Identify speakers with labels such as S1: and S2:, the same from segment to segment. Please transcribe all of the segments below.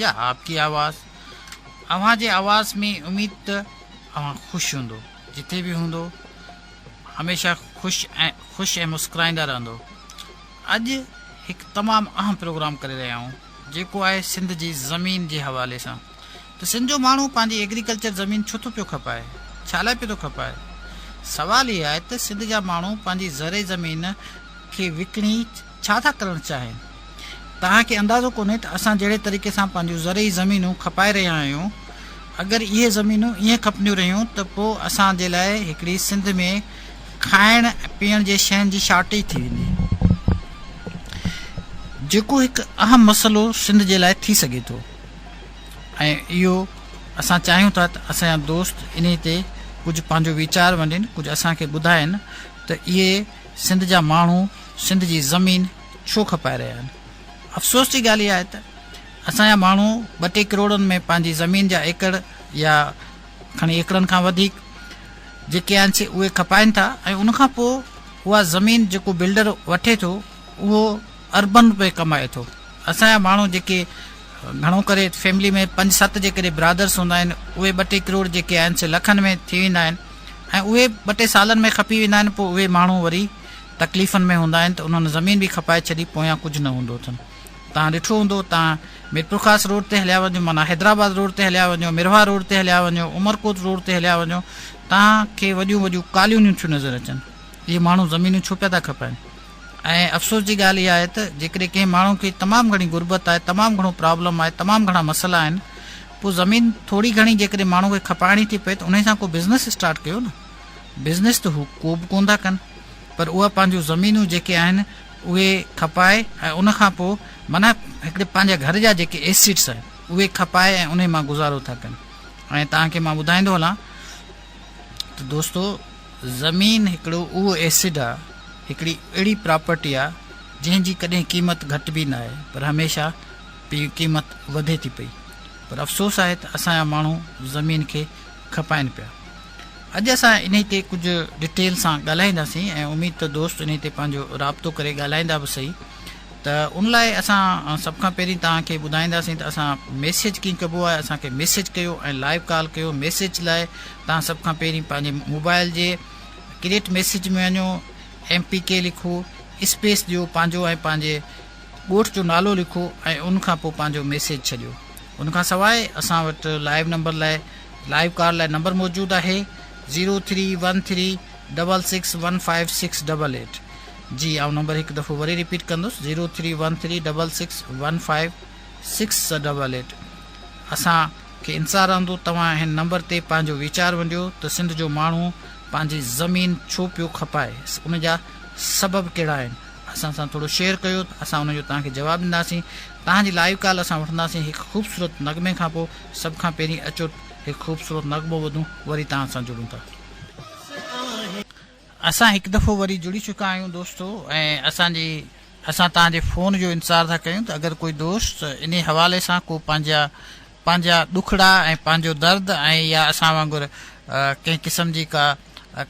S1: يا آپ ڪي آواز اوهان جي آواز ۾ اميد ته اوهان خوش هوندو جتي به هوندو هميشه خوش ۽ خوش ۽ مسڪرائيندا رهندو اڄ هڪ تمام اهم پروگرام ڪري رهيا آهيون جيڪو آهي سنڌ جي زمين جي حوالي سان ته سنڌ جو ماڻهو پنهنجي ايگريڪلچر زمين ڇو ٿو پيو کپائي ڇا لاء پيو ٿو کپائي سوال هي آهي ته سنڌ جا ماڻهو پنهنجي زرعي زمين کي وڪڻي ڇا ٿا ڪرڻ چاهين؟ توهان کي اندازو ڪونهي ته اسان جهڙي طريقي سان پنهنجون زرعي زمينون کپائي رهيا آهيون. اگر اهي زمينون ائين کپنديون رهيون ته پوء اسان جي لاء هڪڙي سنڌ ۾ کائڻ پيئڻ جي شين جي شارٽيج ٿي ويندي. جيڪو هڪ اهم مسئلو سنڌ جي لاء ٿي سگهي ٿو ۽ اهو اسان چاهيون ٿا ته اسان جا دوست انهي تي ڪجهه پنهنجو ويچار وندين ڪجهه اسان کي ٻڌائين ته اهي سنڌ جا ماڻهو سنڌ جي زمين ڇو کپائي رهيا آهن؟ افسوس جي ڳالهه اها آهي ته اسان جا ماڻهو ٻه ٽي ڪروڙن ۾ پنهنجي زمين جا ايڪڙ يا کڻي ايڪڙن کان وڌيڪ جيڪي آهن سي اهي کپائين ٿا ۽ ان کان پوء اها زمين جيڪو بلڊر وٺي ٿو اهو اربن روپيه ڪمائي ٿو اسان جا ماڻهو جيڪي گهڻو ڪري فيملي ۾ پنج ست جيڪڏهن برادرس هوندا آهن اهي ٻه ٽي ڪروڙ جيڪي آهن سي لکن ۾ ٿي ويندا آهن ۽ اهي ٻه ٽي سالن ۾ کپي ويندا آهن پوء اهي ماڻهو وري تڪليفن ۾ هوندا آهن ته انهن زمين به کپائي ڇڏي پويان ڪجهه نه هوندو اٿن تان ڏٺو هوندو تان ميرپورخاص روڊ تي هليا وڃو معنيٰ حيدرآباد روڊ تي هليا وڃو مرهوا روڊ تي هليا وڃو عمرڪوٽ روڊ تي هليا وڃو تان کي وڏيون وڏيون ڪاليونيون ٿيون نظر اچن اهي ماڻهو زمينون ڇو پيا ٿا کپائن ۽ افسوس جي ڳالهه اها آهي ته جيڪڏهن ڪنهن ماڻهو کي تمام گهڻي غربت آهي، تمام گهڻو پرابلم آهي، تمام گهڻا مسئلا آهن، پوء زمين ٿوري گهڻي جيڪڏهن ماڻهو کي کپائڻي ٿي پئي ته انهي سان ڪو بزنس اسٽارٽ ڪيو نه. بزنس ته هو ڪو به ڪونه ٿا ڪن پر اها پنهنجون زمينون جيڪي آهن اهي کپائي ۽ ان کان پوء معنيٰ هڪڙي پنهنجا گهر جا جيڪي ايسيٽس آهن اهي کپائي ۽ انهي مان گذارو ٿا ڪن ۽ توهان کي مان ٻڌائيندو هلان ته دوستو زمين هڪڙو اهو ايسڊ آ هڪڙي اهڙي پراپرٽي آ جنهن جي ڪڏهن قيمت گهٽبي نه آهي پر هميشه پي قيمت وڌي ٿي پئي پر افسوس آهي ته اسان جا ماڻهو زمين کي کپائن پيا اڄ اسان انهي تي ڪجهه ڊيٽيل سان ڳالهائينداسين ۽ اميد ته دوست انهي تي پنهنجو رابطو ڪري ڳالهائيندا به سهي ته ان لاء اسان سڀ کان پهرين توهان کي ٻڌائينداسين ته اسان ميسيج ڪيئن ڪبو آهي اسان کي ميسيج ڪيو ۽ لائيو ڪال ڪيو ميسيج لاء توهان سڀ کان پهرين پنهنجي موبائل جي ڪريٽ ميسيج ۾ وڃو ايم پي ڪي لکو اسپيس ڏيو پنهنجو ۽ پنهنجي ڳوٺ جو نالو لکو ۽ ان کان پوء پنهنجو ميسيج ڇڏيو ان کان سواء اسان وٽ لائيو نمبر لاء لائيو ڪال لاء نمبر موجود آهي zero three one three double six one five six double eight جي آئون نمبر هڪ دفعو وري رپيٽ ڪندس zero three one three double six one five six double eight اسان کي انتظار رهندو توهان هن نمبر تي پنهنجو ويچار ونڊيو ته سنڌ جو ماڻهو پنهنجي زمين ڇو پيو کپائي ان جا سبب ڪهڙا آهن اسان سان ٿورو شيئر ڪيو اسان ان جو توهان کي جواب ڏينداسين توهان جي لائيو ڪال اسان وٺنداسين هڪ خوبصورت نغمي کان پوء سڀ کان پهرين اچو هڪ خوبصورت نغمو ٻڌون وري توهان سان جڙون ٿا اسان هڪ دفعو وري جڙي چڪا آهيون دوستو ۽ اسان جي اسان توهان جي فون جو انتظار ٿا ڪيون ته اگر ڪوئي دوست انهي حوالي سان ڪو پنهنجا پنهنجا ڏکڙا ۽ پنهنجو درد ۽ يا اسان وانگر ڪنهن قسم جي ڪا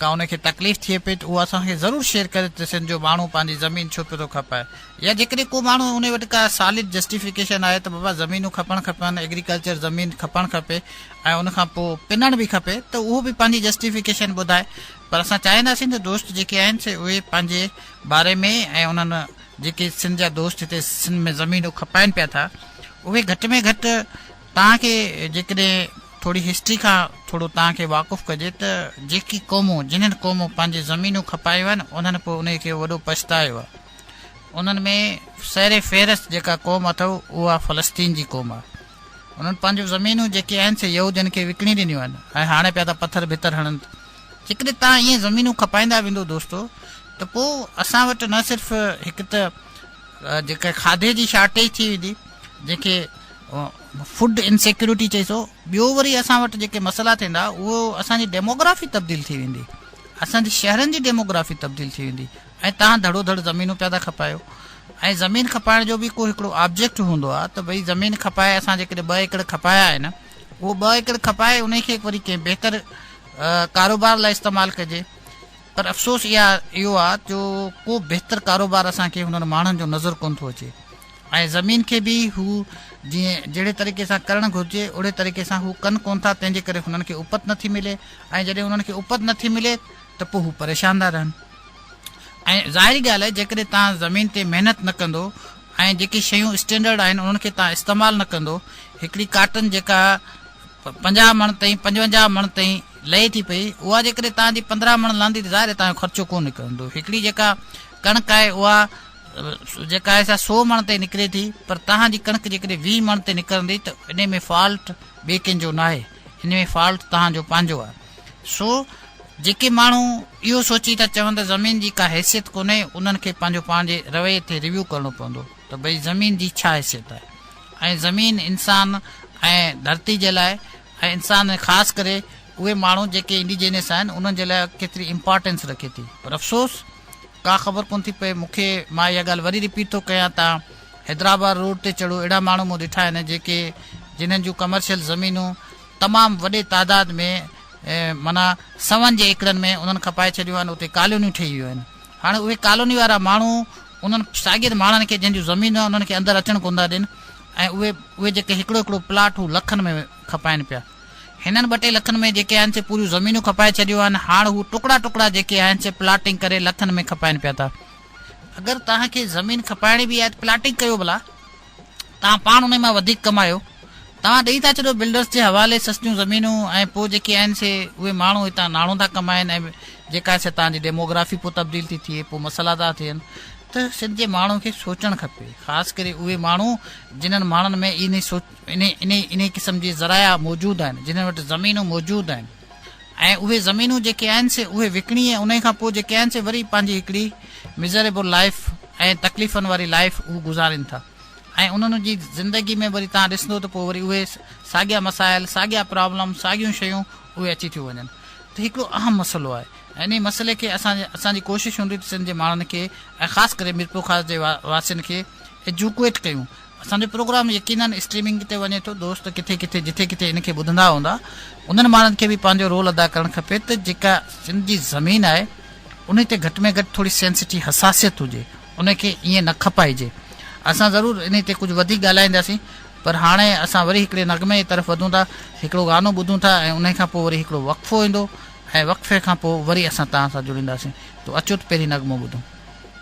S1: ڪا ان کي تڪليف ٿئي پئي ته اهو اسان کي ضرور شيئر ڪري ته سن جو ماڻهو پنهنجي زمين ڇو پيو ٿو کپائي يا جيڪڏهن ڪو ماڻهو انهي وٽ ڪا سالڊ جسٽيفڪيشن آهي ته بابا زمينون کپڻ کپن ايگريڪلچر زمين کپڻ کپي ۽ ان کان پوء پنڻ به کپي ته اهو به پنهنجي جسٽيفڪيشن ٻڌائي پر اسان چاهينداسين ته دوست جيڪي آهن سي اهي پنهنجي باري ۾ ۽ انهن جيڪي سنڌ جا دوست هتي سنڌ ۾ زمينون کپائن پيا ٿا اهي گهٽ ۾ گهٽ توهان کي جيڪڏهن ٿوري هسٽري کان ٿورو توهان کي واقف ڪجي ته جيڪي قومون جنهن قومون پنهنجي زمينون کپايون آهن انهن پوء انهي کي وڏو پڇتايو آهي انهن ۾ سر فهرست جيڪا قوم اٿو اها فلسطين جي قوم آهي انهن پنهنجون زمينون جيڪي آهن سي يهودين کي وڪڻي ڏنيون آهن ۽ هاڻي پيا ٿا پٿر ڀتر هڻن جيڪڏهن توهان ائين زمينون کپائيندا ويندو دوستو ته پوء اسان وٽ نه صرف هڪ ته جيڪا کاڌي جي شارٽيج ٿي ويندي جنهن کي فوڊ انسيڪيورٽي چئي سو ٻيو وري اسان وٽ جيڪي مسئلا ٿيندا اهو اسانجي ڊيموگرافي تبديل ٿي ويندي اسانجي شهرن جي ڊيموگرافي تبديل ٿي ويندي ۽ تان ڌڙو ڌڙ زمينون پيا ٿا کپايو ۽ زمين کپائڻ جو به ڪو هڪڙو آبجيڪٽ هوندو آهي ته ڀئي زمين کپائي اسان جيڪڏهن ٻه ايڪڙ کپايا آهن اهو ٻه ايڪڙ کپائي انهي کي وري ڪنهن بهتر ڪاروبار لاء استعمال ڪجي پر افسوس اها اهو آ جو ڪو بهتر ڪاروبار اسان کي هنن ماڻهن جو نظر ڪونه ٿو اچي ۽ زمين کي به هو جيئن جهڙي طريقي سان ڪرڻ گهرجي اهڙي طريقي سان هو ڪن ڪون ٿا تنهن جي ڪري هنن کي اپت نٿي ملي ۽ جڏهن هنن کي اپت نٿي ملي ته پوء هو پريشان ٿا رهن ۽ ظاهري ڳالهه آهي جيڪڏهن توهان زمين تي محنت نه ڪندو ۽ جيڪي شيون اسٽينڊرڊ آهن انهن کي توهان استعمال نه ڪندو هڪڙي ڪاٽن جيڪا پنجاهه مڻ تائين پنجونجاهه مڻ تائين لهي ٿي پئي اها جيڪڏهن توهان جي پندرهن مڻ لهندي ته ظاهر آهي توهان جو خرچو ڪو نڪرندو هڪڙي جيڪا ڪڻڪ آهي اها جيڪا آهي سا سو مڻ تائين نڪري ٿي پر توهان جي ڪڻڪ جيڪڏهن ويهه مڻ تي نڪرندي ته ان ۾ فالٽ ٻئي ڪنهن جو ناهي ان ۾ فالٽ توهان جو پنهنجو آهي سو جيڪي ماڻهو اهو سوچي ٿا چون ته زمين جي ڪا حيثيت ڪونهي انهن کي پنهنجو پاڻ جي رويي تي ريويو ڪرڻو پوندو ته ڀئي زمين جي ڇا حيثيت آهي ۽ زمين انسان ۽ ڌرتي جي لاء ۽ انسان ۽ خاص ڪري اهي ماڻهو جيڪي انڊيجينس آهن انهن جي لاء ڪيتري امپارٽينس رکي ٿي پر افسوس ڪا خبر ڪونه ٿي پئي مونکي مان اها ڳالهه وري رپيٽ ٿو ڪيان ته حيدرآباد روڊ تي چڙهو اهڙا ماڻهو مون ڏٺا آهن جيڪي جنهن جون ڪمرشل زمينون تمام وڏي تعداد ۾ معنيٰ سون جي ايڪڙن ۾ انهن کپائي ڇڏيو آهن اتي ڪالونيون ٺهي ويون آهن هاڻي اهي ڪالوني وارا ماڻهو انهن شاگرد ماڻهن کي جن جون زمينون آهن انهن کي اندر اچڻ ڪون ٿا ڏين ۽ اهي اهي جيڪي هڪڙو هڪڙو پلاٽ هو لکن ۾ کپائن پيا هنن ٻه ٽي لکن ۾ جيڪي آهن سي پوريون زمينون کپائي ڇڏيو آهن هاڻ هو ٽڪڙا ٽڪڙا جيڪي آهن سي پلاٽنگ ڪري لکن ۾ کپائن پيا ٿا اگر توهان کي زمين کپائڻي به آهي ته پلاٽنگ ڪيو ڀلا. توهان پاڻ انهي مان وڌيڪ ڪمايو توهان ڏئي ٿا ڇڏيو بلڊرس جي حوالي سستيون زمينون ۽ پوء جيڪي آهن سي اهي ماڻهو هتان ناڻو ٿا ڪمائن ۽ جيڪا آهي سي توهان جي ڊيموگرافي پوء تبديل ٿي ٿئي پوء مسئلا ٿا ٿين ته سنڌ جي ماڻهو کي سوچڻ کپي خاص ڪري اهي ماڻهو جنهن ماڻهن ۾ انهي انهي انهي قسم جي ذرايع موجود آهن جنهن وٽ زمينون موجود آهن. ۽ اهي زمينون جيڪي آهن سي اهي وڪڻي ۽ انهي کان پوء جيڪي آهن سي وري پنهنجي هڪڙي Miserable Life ۽ تڪليفن واري لائيف هو گذارين ٿا ۽ انهن جي زندگي ۾ وري تهان ڏسندو ته پوء وري اهي ساڳيا مسائل ساڳيا پرابلم ساڳيون شيون اهي اچي ٿيون وڃن ته هڪڙو اهم مسئلو آهي ۽ انهي مسئلي کي اسان اسان جي ڪوشش هوندي ته سنڌ جي ماڻهن کي ۽ خاص ڪري ميرپورخاص جي واسين کي ايجوڪوئيٽ ڪيون اسان جو پروگرام يقينن اسٽريمنگ تي وڃي ٿو دوست ڪٿي ڪٿي جٿي ڪٿي ان کي ٻڌندا هوندا انهن ماڻهن کي به پنهنجو رول ادا ڪرڻ کپي ته جيڪا سنڌ جي زمين آهي انهي تي گهٽ ۾ گهٽ ٿوري سينسٽي حساسيت هجي ان کي ائين نه کپائجي اسان ضرور انهي تي ڪجهه وڌيڪ ڳالهائينداسين پر هاڻي اسان وري هڪڙي نغمي جي طرف وڌون ٿا هڪڙو گانو ٻڌون ٿا ۽ انهي کان پوء وري هڪڙو وقفو ايندو ۽ وقفي کان پوء وري اسان توهان سان جڙينداسين تو اچو ته پهرين نغمو ٻڌون.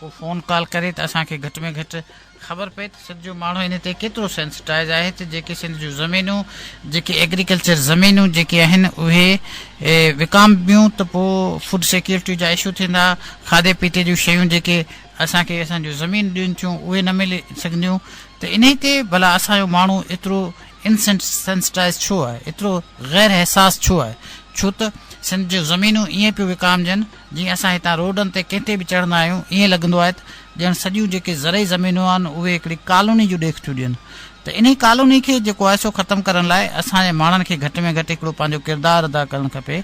S1: هو فون ڪال ڪري ته اسان کي گهٽ ۾ گهٽ خبر پئي ته سنڌ جو ماڻهو ان تي ڪيترو سينسٽائز آهي ته جيڪي سنڌ جون زمينون جيڪي ايگريڪلچر زمينون جيڪي آهن اهي وڪامبيون ته پوء فوڊ سيڪيورٽي جا اشو ٿيندا کاڌي پيتي جون شيون جيڪي اسان کي اسان جون زمين ڏين ٿيون اهي نه ملي سگهنديون ته انهي تي ڀلا اسان جو ماڻهو ايترو انسينسٽائز ڇو آهي ايترو غير حساس ڇو آهي ڇو ته سنڌ جون زمينون ائين پيو وڪامجن جيئن اسان هتان روڊن تي ڪنهن تي به چڙهندا آهيون ائين لڳندو آهي ته ڄڻ سڄيون جيڪي زرعي زمينون آهن اهي هڪڙي ڪالوني جون ڏيک ٿيون ڏين ته انهي ڪالوني کي جيڪو آهي سو ختم ڪرڻ لاء اسان جي ماڻهن کي گهٽ ۾ گهٽ هڪڙو پنهنجو ڪردار ادا ڪرڻ کپي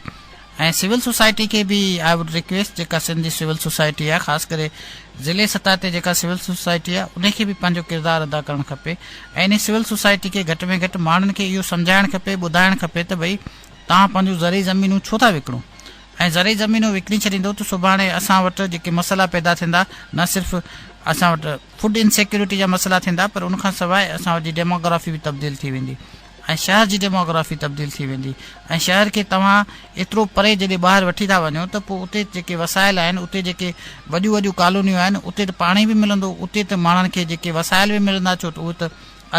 S1: ۽ سول سوسائٽي کي به آء وڊ ريڪويسٽ جيڪا سنڌ جي سول سوسائٽي آهي خاص ڪري ضلعي سطح تي جيڪا سول سوسائٽي آهي انهي کي به پنهنجو ڪردار ادا ڪرڻ کپي ۽ انهي سول سوسائٽي کي گهٽ ۾ گهٽ ماڻهن کي اهو سمجهائڻ کپي ٻڌائڻ کپي ته ڀئي تهان پنهنجون زرعي زمينون ڇو ٿا وڪڻو ۽ زرعي زمينون وڪڻي ڇڏيندو ته سڀاڻي اسان وٽ جيڪي مسئلا پيدا ٿيندا نه صرف اسان وٽ فوڊ ان سيڪيورٽي جا مسئلا ٿيندا پر ان کان سواء اسان وٽ جي ڊيموگرافي به تبديل ٿي ويندي ۽ شهر جي ڊيموگرافي تبديل ٿي ويندي ۽ شهر کي توهان ايترو پري جڏهن ٻاهر وٺي ٿا وڃو ته پوء اتي جيڪي وسائل آهن اتي جيڪي وڏيون وڏيون ڪالونيون آهن اتي ته پاڻي به ملندو اتي ته ماڻهن کي جيڪي وسائل به ملندا ڇو ته اهي ته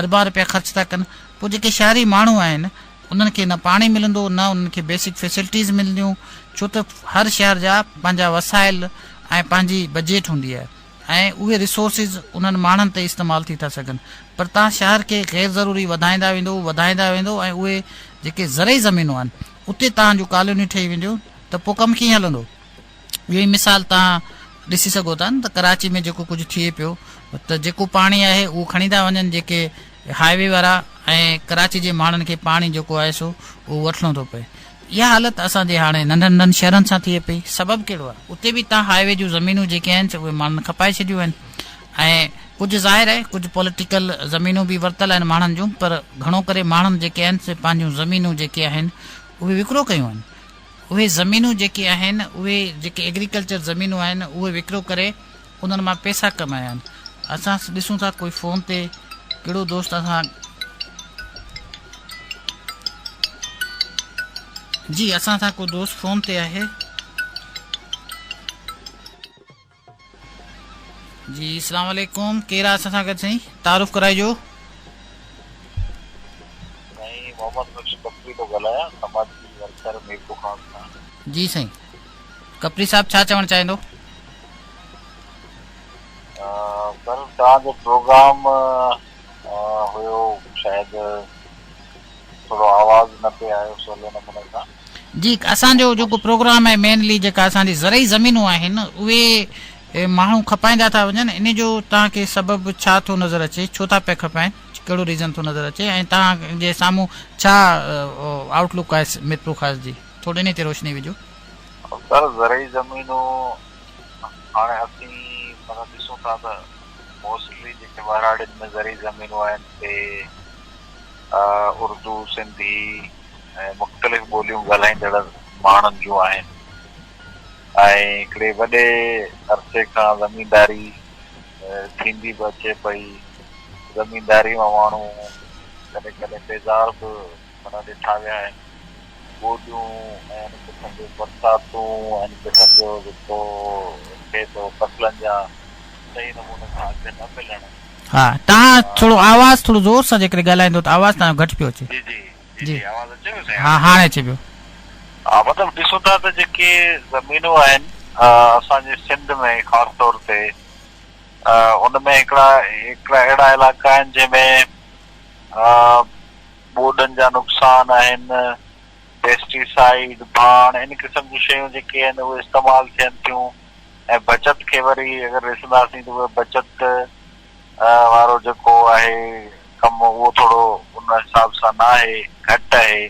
S1: اربان رپيا خرچ ٿا ڪن پوء جيڪي شهري ماڻهو آهن انهن کي نه پاڻي ملندو نه انهن کي بيسڪ فيسلٽيز ملنديون ڇو ته هر شهر جا پنهنجا وسائل ۽ پنهنجي بجيٽ هوندي آهي ۽ اهي ريسورسز انهن ماڻهن تي استعمال ٿي ٿا سگهن پر تان شهر کي غير ضروري وڌائيندا ويندو وڌائيندا ويندو ۽ اهي جيڪي زرعي زمينون آهن اتي تان جون ڪالونيون ٺهي وينديون ته پوء ڪم ڪيئن هلندو. ٻيو هي مثال توهان ڏسي سگهو ٿا نه ته ڪراچي ۾ جيڪو ڪجهه ٿئي پيو ته جيڪو پاڻي آهي اهو کڻي ٿا وڃن جيڪي هاء وي وارا ۽ ڪراچي جي ماڻهن کي پاڻي جيڪو آهي سو اهو وٺڻو ٿو پئي اها حالت اسان جي هاڻي ننڍن ننڍن شهرن سان ٿئي پئي سبب ڪهڙو آهي اتي به توهان هاء وي جون زمينون جيڪي آهن سي اهي ماڻهن کپائي ڇڏيون آهن ۽ ڪجهه ظاهر آهي ڪجهه پوليٽيڪل زمينون به ورتل آهن ماڻهن جون پر گهڻو ڪري ماڻهن جيڪي آهن سي پنهنجون زمينون جيڪي آهن اهي وڪرو ڪيون آهن اهي زمينون جيڪي آهن اهي جيڪي ايگريڪلچر زمينون آهن اهي وڪرو ڪري انهن مان پئسا ڪمايا آهن اسان ڏسون ٿا ڪوئي فون تي ڪهڙو دوست اسان جي اسان سان ڪو دوست فون تي آهي. جي اسلام عليڪم ڪير آ اسان سان گڏ سائين تعارف ڪرائجو. سائين محمد بخش ڪپري ٿو ڳالهايان سماجي ورڪر ميرپور خاص کان. جي سائين ڪپري صاحب ڇا چوڻ چاهيندو.
S2: سر توهان جو پروگرام هيو شايد ٿورو آواز نه پي آيو سولي نموني سان. جي اسان جو
S1: جيڪو پروگرام آهي مينلي جيڪا اسان جي زرعي زمينون آهن اهي ماڻهو کپائيندا ٿا وڃن ان جو توهان کي سبب ڇا ٿو نظر اچي ڇو ٿا پيا کپائين ڪهڙو ريزن ٿو نظر اچي ۽ توهان جي سامهون ڇا آئوٽ لوڪ آهي ميرپورخاص جي ٿوري انهي تي روشني وجهو. سر زرعي زمينون هاڻي اسين مثلا ڏسون ٿا ته موسٽلي جيڪي ٻهراڙين ۾
S2: زرعي زمينون آهن سي اردو سنڌي ۽ مختلف ٻوليون ڳالهائيندڙ ماڻهن جون آهن ۽ هڪڙي وڏي عرصي کان زمينداري ٿيندي به اچي پئي. زمينداري مان ماڻهو ڪڏهن ڪڏهن بيزار به معنيٰ ڏٺا ويا آهن. ٻوڏيون ۽ ان قسم جون برساتون ان قسم جو جيڪو ٿئي ٿو فصلن جا صحيح نموني سان اگهه نه ملڻ، ها توهان
S1: ٿورو آواز ٿورو زور سان جيڪڏهن ڳالهائيندو ته آواز توهان جو
S2: گهٽ
S1: پيو اچي. جي جي
S2: جي
S1: آواز اچي پيو سائين ها هاڻي
S2: اچي پيو.
S1: ها
S2: مطلب ڏسون ٿا ته جيڪي زمينون آهن اسان جي سنڌ ۾ خاص طور تي ان ۾ هڪڙا هڪڙا اهڙا علائقا آهن جنهن ۾ ٻوڏن جا نقصان آهن پيسٽي سائيڊ ڀاڻ ان قسم جون شيون جيڪي آهن اهي استعمال ٿين ٿيون. ۽ بچت کي وري اگر ڏسنداسين ته اهي بچت وارو جيڪو آهي ڪم اهو ٿورو ان حساب سان نه آهي گهٽ آهي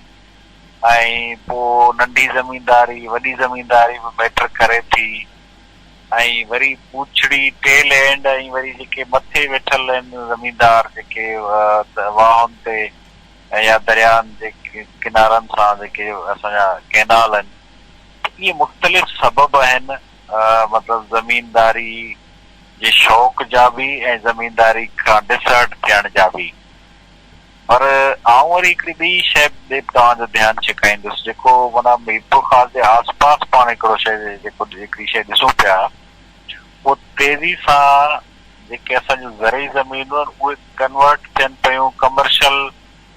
S2: ۽ پوء ننڍي زمينداري وڏي زمينداري به ميٽر ڪري ٿي ۽ وري پوڇڙي ٽيل اينڊ ۽ وري جيڪي مٿي ويٺل آهن زميندار جيڪي واهن تي يا درياهن جي ڪنارن سان جيڪي اسان جا ڪينال آهن اهي مختلف سبب آهن، مطلب زمينداري جي شوق جا به ۽ زمينداري کان ڊسهرٽ ٿيڻ جا به. پر آئون وري هڪڙي ٻي شيء ڏي به توهان جو ڌيان ڇڪائيندس، جيڪو معنيٰ ميرپور خاص جي آس پاس پاڻ هڪڙو شيء جيڪو هڪڙي شيء ڏسون پيا، اهو تيزي سان جيڪي اسان جون زرعي زمينون آهن، اهي ڪنورٽ ٿين پيون ڪمرشل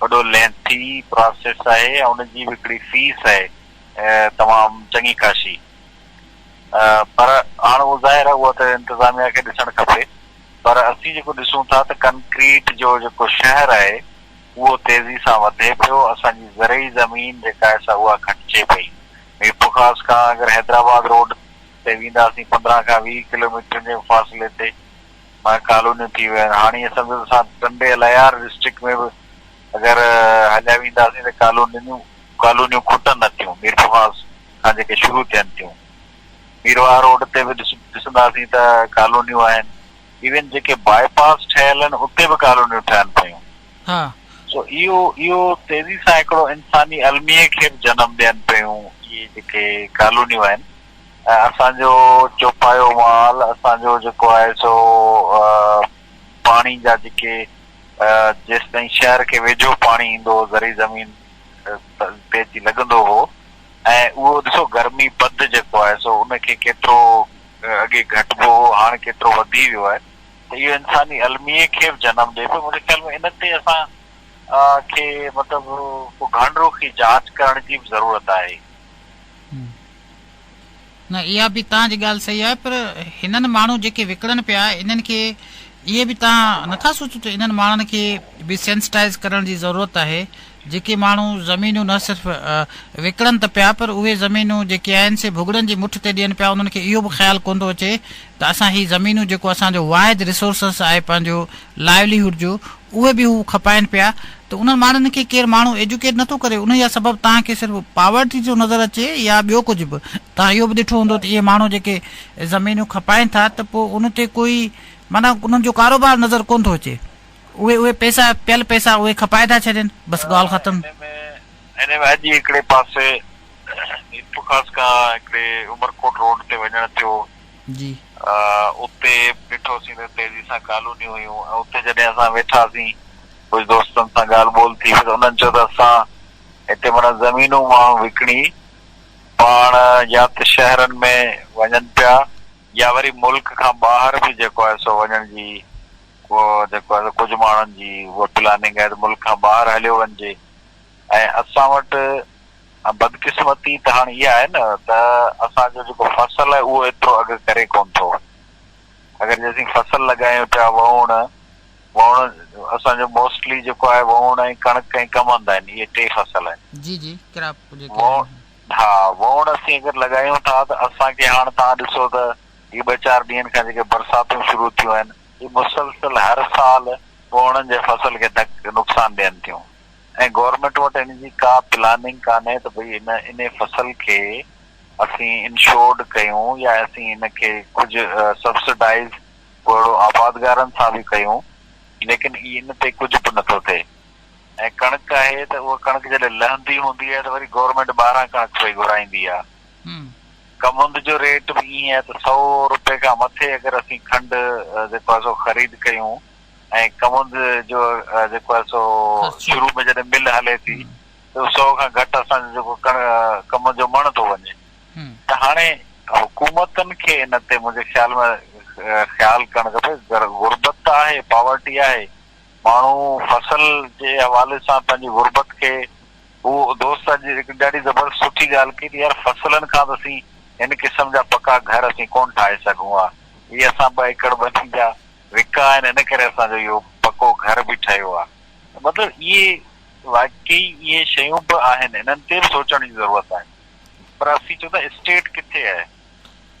S2: وڏو لينٿي پراسيس آهي ۽ ان جي به هڪڙي فيس آهي تمام چڱي خاشي پر هاڻ اهو ظاهر آهي اهو ته انتظاميا کي ڏسڻ کپي پر اسين جيڪو ڏسون ٿا ته ڪنڪريٽ جو جيڪو شهر آهي اهو تيزي سان وڌي پيو اسان جي زرعي زمين جيڪا آهي سا اها گهٽجي پئي ميرپورخاص کان اگر حيدرآباد روڊ تي وينداسين پندرهن کان ويهه ڪلوميٽرن جي فاصلي تي مان ڪالونيون ٿي ويون آهن هاڻي اسان سندس اسان ٽنڊي الهيار ڊسٽرڪٽ ۾ به اگر هليا وينداسين ته ڪالونيون ڪالونيون کٽن نه ٿيون ميرپورخاص کان جيڪي شروع ٿين ٿيون ميرواهه روڊ تي به ڏسنداسين ته ڪالونيون آهن ايون جيڪي باء پاس ٺهيل آهن اتي به ڪالونيون ٺهن پيون
S1: سو اهو
S2: اهو تيزي سان هڪڙو انساني الميي کي به جنم ڏين پيون اهي جيڪي ڪالونيون آهن. ۽ اسان جو چوپايو مال اسان جو جيڪو آهي سو پاڻي جا جيڪي جيستائين شهر کي ويجهو پاڻي ايندو هو زرعي زمين تي اچي لڳندو هو ۽ اهو ڏسو گرمي پد جيڪو آهي سو ان کي ڪيترو اڳي گهٽبو هو هاڻ ڪيترو وڌي ويو آهي ته اهو انساني الميي کي به جنم ڏئي پيو منهنجي خيال ۾ ان تي اسان کي مطلب ڪو گهڻ رخي جاچ ڪرڻ جي به ضرورت آهي.
S1: نه اها به تان جي ڳالهه صحيح آهي پر هنن ماڻهو جيڪي وڪڙن پيا انهن کي اهي به تان نٿا سوچو ته انهن ماڻهن کي به سينسٽائز ڪرڻ جي ضرورت آهي جيڪي ماڻهو زمينون نه صرف وڪڙن ته پيا پر اهي زمينون جيڪي آهن سي ڀڳڙن جي مٺ تي ڏين پيا انهن کي اهو به خيال ڪون ٿو اچي ته اسان هي زمينون جيڪو اسان جو واحد ريسورسس آهي پنهنجو لائيولي هوڊ جو اهي به هو کپائين پيا ته انهن ماڻهن کي ڪير ماڻهو ايجوڪيٽ نٿو ڪري انهي جا سبب توهان کي صرف پاورٽي ٿو نظر اچي يا ٻيو ڪجهه به توهان اهو به ڏٺو هوندو ته اهي ماڻهو جيڪي زمينون کپائين ٿا ته پوء ان تي ڪوئي معنيٰ انهن جو ڪاروبار نظر ڪونه ٿو اچي اهي اهي پيسا پيل پيسا اهي کپائي ٿا ڇڏين بس ڳالهه ختم. انهي ۾
S2: اڄ ئي هڪڙي پاسي اتفاق کان هڪڙي عمرڪوٽ روڊ تي وڃڻ ٿيو. جي.
S1: اتي
S2: ڏٺوسين ته تيزي سان ڪالونيون هيون ۽ اتي جڏهن اسان ويٺاسين ڪجهه دوستن سان ڳالهه ٻولهه ٿي ته انهن چيو ته اسان هتي معنيٰ زمينون ماڻهو وڪڻي پاڻ يا ته شهرن ۾ وڃن پيا يا وري ملڪ کان ٻاهر به جيڪو آهي سو وڃڻ جي جيڪو آهي سو ڪجهه ماڻهن جي اها پلاننگ آهي ته ملڪ کان ٻاهر هليو وڃجي ۽ اسان وٽ ۽ بدقسمتي ته هاڻ اها آهي نه ته اسان جو جيڪو فصل آهي اهو ايترو اگهه ڪري ڪونه ٿو. اگر جي اسين فصل لڳايون پيا وهوڻ وهوڻ اسان جو موسٽلي جيڪو آهي وهوڻ ۽ ڪڻڪ ۽ ڪمند آهن اهي ٽي فصل آهن. جي جي ڪراپ
S1: جيڪي آهن
S2: اهي. ها وهوڻ اسين اگر لڳايون ٿا ته اسان کي هاڻ توهان ڏسو ته هي ٻه چار ڏينهن کان جيڪي برساتون شروع ٿيون آهن اهي مسلسل هر سال وهوڻن جي فصل کي ڌڪ نقصان ڏين ٿيون. ۽ گورنمينٽ وٽ ان جي ڪا پلاننگ ڪانهي ته ڀئي ان ان فصل کي اسين انشورڊ ڪيون يا اسين ان کي ڪجهه سبسڊائيز پوءهڙو آبادگارن سان به ڪيون ليڪن اي ان تي ڪجهه به نه ٿو ٿئي ۽ ڪڻڪ آهي ته اها ڪڻڪ جڏهن لهندي هوندي آهي ته وري گورنمينٽ ٻاهران ڪڻڪ پئي گهرائيندي آهي ڪمند جو ريٽ به ائين آهي ته سؤ روپي کان مٿي اگر اسين کنڊ جيڪو آهي سو خريد ڪيون ۽ ڪمند جو جيڪو آهي سو شروع ۾ جڏهن مل هلي ٿي ته سو کان گهٽ اسان جو جيڪو ڪمند جو مڻ ٿو وڃي ته هاڻي حڪومتن کي ان تي منهنجي خيال ۾ خيال ڪرڻ کپي غربت ته آهي پاورٽي آهي ماڻهو فصل جي حوالي سان پنهنجي غربت کي هو دوست اڄ هڪ ڏاڍي زبردست سٺي ڳالهه ڪئي ته يار فصلن کان ته اسين هن قسم جا پڪا گهر اسين ڪونه ٺاهي سگهون ها هي اسان ٻه ايڪڙ ٻني جا وکا آهن ان ڪري اسان جو اهو پڪو گهر به ٺهيو آهي ته مطلب اهي واقعي اهي شيون به آهن انهن تي به سوچڻ جي ضرورت آهي پر اسين چون ٿا اسٽيٽ ڪٿي آهي.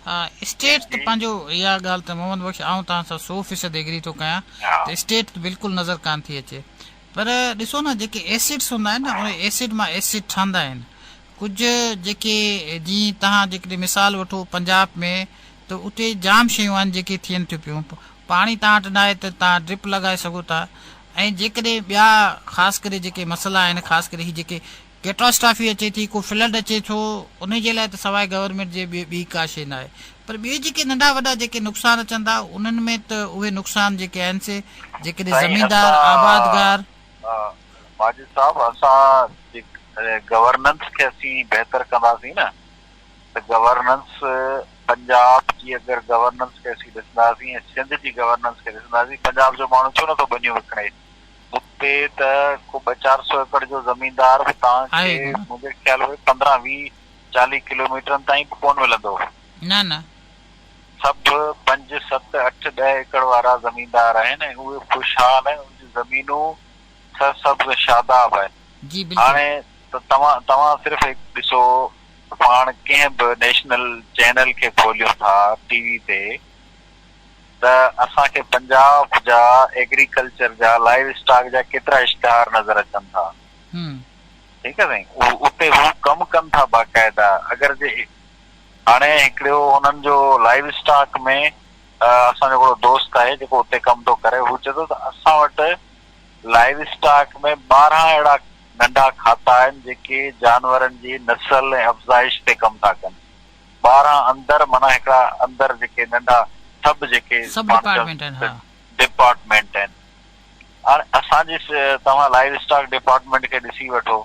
S2: ها
S1: اسٽيٽ ته پنهنجو اها ڳالهه ته محمد بخش آئون توهان سان سو فيصد ايگري ٿو ڪيان ته اسٽيٽ ته بلڪل نظر ڪانه ٿي اچي پر ڏسو نه جيڪي ايسڊس هوندا آهن نه انهي ايسڊ مان ايسڊ ٺهندا آهن ڪجهه جيڪي جي توهان جيڪڏهن مثال وٺو پنجاب ۾ ته اتي جام شيون آهن جيڪي ٿين ٿيون پيون پاڻي تان وٽ ناهي ته تان ڊرپ لڳائي سگهو ٿا ۽ جيڪڏهن ٻيا خاص ڪري جيڪي مسئلا آهن خاص ڪري هي جيڪي ڪيٽاسٽافي اچي ٿي ڪو فلڊ اچي ٿو انهي جي لاء ته سواء گورنمينٽ جي ٻي ٻي ڪا شي ناهي پر ٻي جيڪي ننڍا وڏا جيڪي نقصان اچن ٿا انهن ۾ ته اهي نقصان جيڪي آهن سي جيڪڏهن زميندار آبادگار
S2: ماجد صاحب اسان گورننس کي اسين بهتر ڪنداسين نه. ته گورننس پنجاب جي اگر گورننس کي اسين ڏسنداسين ۽ سنڌ جي گورننس کي ڏسنداسين پنجاب جو ماڻهو ڇو نٿو ٻنيون وڪڻي اتي ته ڪو ٻه چار سو ايڪڙ جو زميندار به توهان کي منهنجي خيال اهي پندرهن ويهه چاليهه ڪلوميٽرن تائين به ڪون ملندو نه نه سڀ پنج ست اٺ ڏهه ايڪڙ وارا زميندار آهن ۽ اهي خوشحال آهن انهن جون زمينون سرسبز شاداب آهن جي بلڪل هاڻي ته توهان توهان صرف هڪ ڏسو پاڻ ڪنهن به نيشنل چينل کي کوليون ٿا ٽي وي تي ته اسان کي پنجاب جا ايگريڪلچر جا لائيو اسٽاڪ جا ڪيترا اشتهار نظر اچن ٿا ٺيڪ آ سائين اتي هو ڪم ڪن ٿا باقاعده اگر جي هاڻي هڪڙيو انهن جو لائيو اسٽاڪ ۾ اسان جو هڪڙو دوست آهي جيڪو اتي ڪم ٿو ڪري هو چئي ٿو ته اسان وٽ لائيو اسٽاڪ ۾ ٻارهن اهڙا ننڍا کاتا آهن جيڪي جانورن جي نسل ۽ افزائش تي ڪم ٿا ڪن. ٻاهران اندر معنيٰ هڪڙا اندر جيڪي ننڍا سب جيڪي ڊپارٽمينٽ آهن. هاڻي اسان جي توهان لائيو اسٽاڪ ڊپارٽمينٽ کي ڏسي وٺو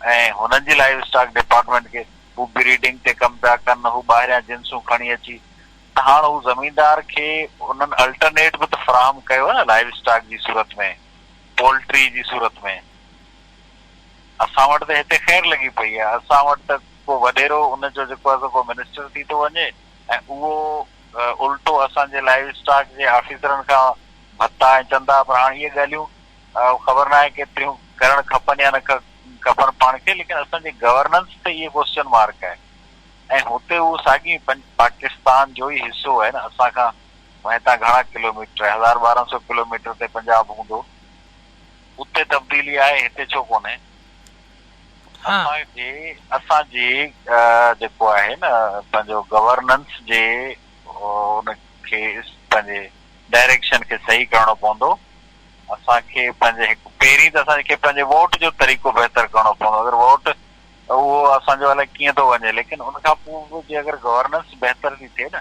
S2: ۽ هنن جي لائيو اسٽاڪ ڊپارٽمينٽ کي هو بريڊنگ تي ڪم پيا ڪن هو ٻاهريان جنسون کڻي اچي ته هاڻ هو زميندار کي انهن الٽرنيٽ به ته فراهم ڪيو نه لائيو اسٽاڪ جي صورت ۾ پولٽري جي صورت ۾، اسان وٽ ته هتي خير لڳي پئي آهي، اسان وٽ ته ڪو وڏيرو ان جو جيڪو آهي سو ڪو منسٽر ٿي ٿو وڃي ۽ اهو الٽو اسان جي لائيو اسٽاڪ جي آفيسرن کان ڀتا ۽ چندا پر هاڻ اهي ڳالهيون خبر ناهي ڪيتريون ڪرڻ کپن يا نه کپن پاڻ کي ليڪن اسان جي گورننس تي اهي ڪوسچن مارڪ آهي ۽ هتي اهو ساڳي پاڪستان جو ئي حصو آهي نه اسان کان ۽ هتان گهڻا ڪلوميٽر، هزار ٻارهن سئو ڪلوميٽر تي پنجاب هوندو. اتي تبديلي آهي، هتي ڇو ڪونهي؟ اسان جي اسان جي جيڪو آهي نه پنهنجو گورننس جي ان کي پنهنجي ڊائريڪشن کي صحيح ڪرڻو پوندو. اسان کي پنهنجي هڪ پهرين ته اسان کي پنهنجي ووٽ جو طريقو بهتر ڪرڻو پوندو. اگر ووٽ اهو اسان جو الائي ڪيئن ٿو وڃي ليڪن ان کان پوء به جي اگر گورننس بهتر ٿي ٿئي نه.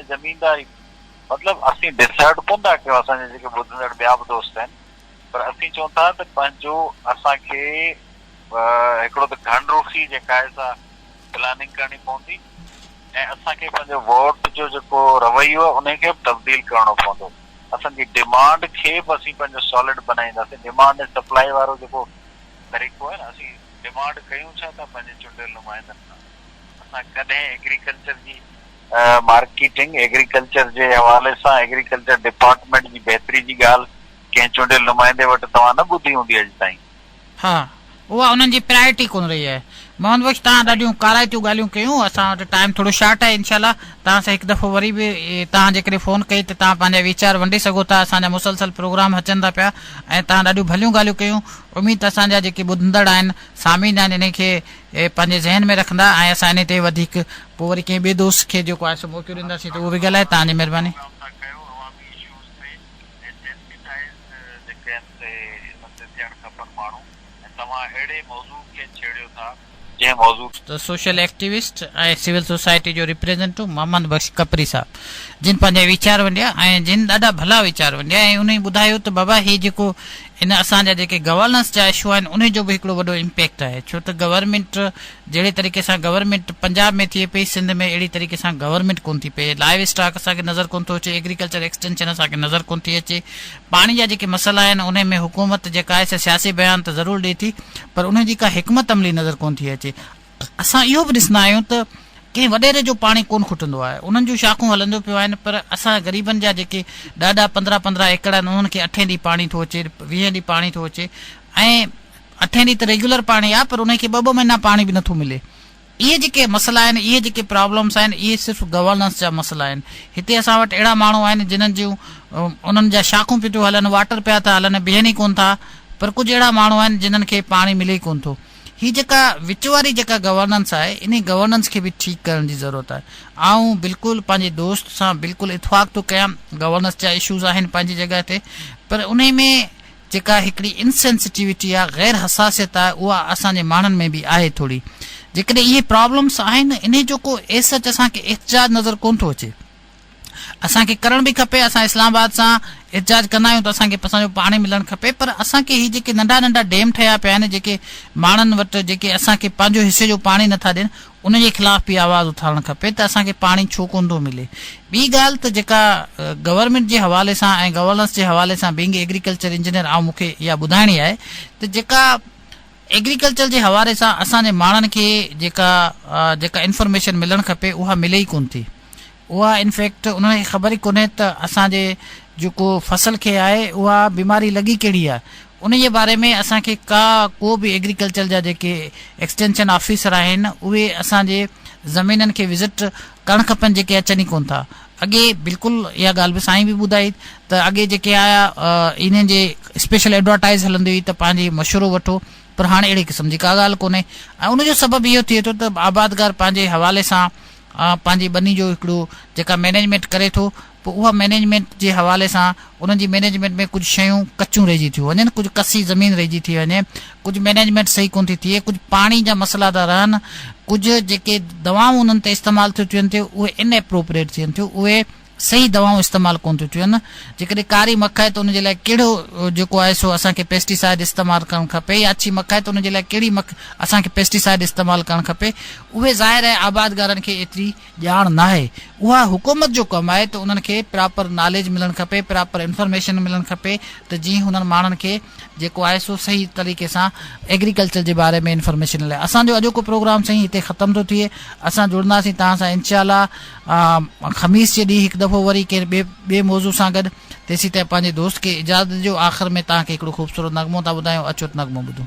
S2: ۽ زمينداري مطلب اسين ڊسائڊ ڪون ٿا ڪيون اسان جا جيڪي ٻڌندڙ ٻيا به دوست آهن پر اسين چئون ٿا ته پنهنجو اسان کي هڪڙو ته گهڻ روخي جي ڪاهي سا پلاننگ ڪرڻي پوندي ۽ اسان کي پنهنجو ووٽ جو جيڪو رويو آهي انهي کي به تبديل ڪرڻو پوندو اسان جي ڊمانڊ کي به اسين پنهنجو سالڊ بنائينداسين ڊمانڊ ۽ سپلائي وارو جيڪو طريقو آهي نه اسين ڊمانڊ ڪيون ڇا ٿا پنهنجي چونڊيل نمائندن کان اسان ڪڏهن ايگريڪلچر جي مارڪيٽنگ، ايگريڪلچر جي حوالي سان ايگريڪلچر ڊپارٽمينٽ جي بهتري جي ڳالهه ڪنهن چونڊيل نمائندي وٽ توهان نه ٻڌي هوندي اڄ تائين. ها،
S1: اها انهن جي پرائرٽي ڪونه رهي آهي. محمد بخش توهان ڏاڍيون ڪارائتيون ڳالهيون ڪيون، اسان وٽ ٽائيم ٿورو شارٽ آهي انشاء الله توهان سان هڪ دفعو وري به توهان جيڪڏهن فون ڪئي ته توهان پنهنجا ويچار ونڊي سگهو ٿا، اسان جا مسلسل پروگرام اچن ٿا پيا ۽ توهان ڏاڍيون ڀليون ڳالهيون ڪيون، اميد ته اسان جا جيڪي ٻڌندڙ آهن، سامعين آهن انهن کي پنهنجي ذهن ۾ رکندا ۽ اسان انهي تي وڌيڪ پوء وري ڪنهن ٻئي دوست کي جيڪو آهي سو موقعو ڏينداسين ته اهو به ڳالهائي تان جي مهرباني. سوشل ايڪٽيوسٽ ۽ سول سوسائٽي جو ريپريزنٽو محمد بخش ڪپري صاحب جن پنهنجا ويچار ونڊيا ۽ جن ڏاڍا ڀلا ويچار ونڊيا ۽ انهي ٻڌايو ته بابا هي جيڪو ان اسان جا جيڪي گورننس جا اشو آهن انهي جو به هڪڙو وڏو امپيڪٽ آهي ڇو ته گورنمينٽ جهڙي طريقي سان گورنمينٽ پنجاب ۾ ٿئي پئي سنڌ ۾ اهڙي طريقي سان گورنمينٽ ڪون ٿي پئي لائيو اسٽاڪ اسان کي نظر ڪون ٿو اچي ايگريڪلچر ايڪسٽينشن اسان کي نظر ڪون ٿي اچي پاڻي جا جيڪي مسئلا آهن انهي ۾ حڪومت جيڪا آهي سا سياسي بيان ته ضرور ڏئي ٿي پر انهي جي ڪا حڪمت عملي نظر ڪون ٿي اچي اسان اهو به ڏسندا آهيون ته ڪنهن وڏيري جو پاڻي ڪونه کٽندو آهي، انهن جون شاخون هلنديون پيون آهن پر اسان غريبن جا جيڪي ڏهه ڏهه پندرهن پندرهن ايڪڙ آهن انهن کي اٺين ڏينهن پاڻي ٿو اچي، ويهين ڏينهن پاڻي ٿو اچي ۽ اٺين ڏينهن ته ريگيولر پاڻي آهي پر انهن کي ٻه ٻه مهينا پاڻي به نٿو ملي. اهي جيڪي مسئلا آهن، اهي جيڪي پرابلمس آهن اهي صرف گورننس جا مسئلا آهن. هتي اسان وٽ اهڙا ماڻهو آهن جنهن جون انهن جا شاخون پيون ٿيون هلن، واٽر پيا ٿا هلن، بيهن ئي ڪونه ٿا پر ڪجهه اهڙا ماڻهو آهن جنهن کي پاڻي ملي ئي ڪونه ٿو. هي جيڪا وچ واري جيڪا گورننس آهي انهي گورننس کي به ٺيڪ ڪرڻ جي ضرورت آهي آئون بلڪل پنهنجي دوست سان بلڪل اتفاق ٿو ڪيان گورننس جا اشوز آهن پنهنجي جڳهه تي پر انهي ۾ جيڪا هڪڙي ان سينسيٽيوٽي آهي غير حساسيت آهي اها اسان جي ماڻهن ۾ به آهي ٿوري جيڪڏهن اهي پرابلمس آهن انهي جو ڪو ايس سچ اسان کي احتجاج نظر ڪون ٿو اچي. اسان کي ڪرڻ به کپي اسان اسلام آباد سان احتجاج ڪندا آهيون ته اسان کي اسان جو پاڻي ملڻ کپي پر اسان کي هي جيڪي ننڍا ننڍا ڊيم ٺهيا پيا آهن جيڪي ماڻهن وٽ جيڪي اسان کي پنهنجو حصي جو پاڻي نٿا ڏين ان جي خلاف به آواز اٿارڻ کپي ته اسان کي پاڻي ڇو ڪون ٿو ملي ٻي ڳالهه ته جيڪا گورنمينٽ جي حوالي سان ۽ گورننس جي حوالي سان بينگ ايگريڪلچر انجنيئر آئون مون کي اها ٻڌائڻي آهي ته جيڪا ايگريڪلچر جي حوالي سان اسان جي ماڻهن کي جيڪا جيڪا انفارميشن ملڻ کپي اها ملي ئي ڪون ٿي اها ان فيڪٽ انهن کي خبر ئي ڪونهي ته اسان جي جيڪو فصل کي آهي اها بيماري لڳي ڪهڙي آهي انهيء باري ۾ اسان کي ڪا ڪو به ايگريڪلچر جا جيڪي ايڪسٽينشن آفيسر آهن اهي اسان جي زمينن کي وزٽ ڪرڻ کپن جيڪي اچن ئي ڪونه ٿا اڳي بلڪل اها ڳالهه به سائين به ٻڌائي ته اڳي جيڪي آيا انهن جي اسپيشل ايڊورٽائز هلندي هئي ته پنهنجي مشورو وٺو پر هاڻي اهڙي قسم جي ڪا ڳالهه ڪونهي ۽ ان جو سبب اهو ٿئي ٿو ته آبادگار پنهنجي حوالي سان پنهنجي ٻني جو هڪڙو جيڪا مئنيجمينٽ ڪري ٿو پوء اها مئنيجمينٽ جي حوالي سان انهن جي مئنيجمينٽ ۾ ڪجهه شيون ڪچيون رهجي ٿيون وڃن ڪجهه ڪسي زمين رهجي ٿي وڃي ڪجهه مئنيجمينٽ صحيح ڪونه ٿي ٿئي ڪجهه پاڻي جا مسئلا ٿا رهن ڪجهه جيڪي دوائون انهن تي استعمال ٿيون ٿين ٿيون اهي ان ايپروپريٽ ٿين ٿيون اهي صحيح دوائون استعمال ڪون ٿيون ٿين جيڪڏهن ڪاري مک آهي ته ان جي لاء ڪهڙو جيڪو آهي سو اسان کي پيسٽي سائيڊ استعمال ڪرڻ کپي يا اڇي مک آهي ته ان جي لاء ڪهڙي مک اسان کي پيسٽي سائيڊ استعمال ڪرڻ کپي اهي ظاهر آهي آبادگارن کي ايتري ڄاڻ ناهي اها حڪومت جو ڪم آهي ته انهن کي پراپر ناليج ملڻ کپي پراپر انفارميشن ملڻ کپي ته جيئن هنن ماڻهن کي جيڪو آهي سو صحيح طريقي سان ايگريڪلچر جي باري ۾ انفارميشن لاء اسان جو اڄوڪو پروگرام سائين هتي ختم ٿو ٿئي اسان جڙنداسين توهان سان انشاء الله خميس جي ڏينهن هڪ دفعو وري ڪنهن ٻي ٻي موضوع سان گڏ تيسين تائين پنهنجي دوست کي اجازت ڏيو آخر ۾ توهان کي هڪڙو خوبصورت نغمو ٿا ٻڌايون اچو ته نغمو ٻڌون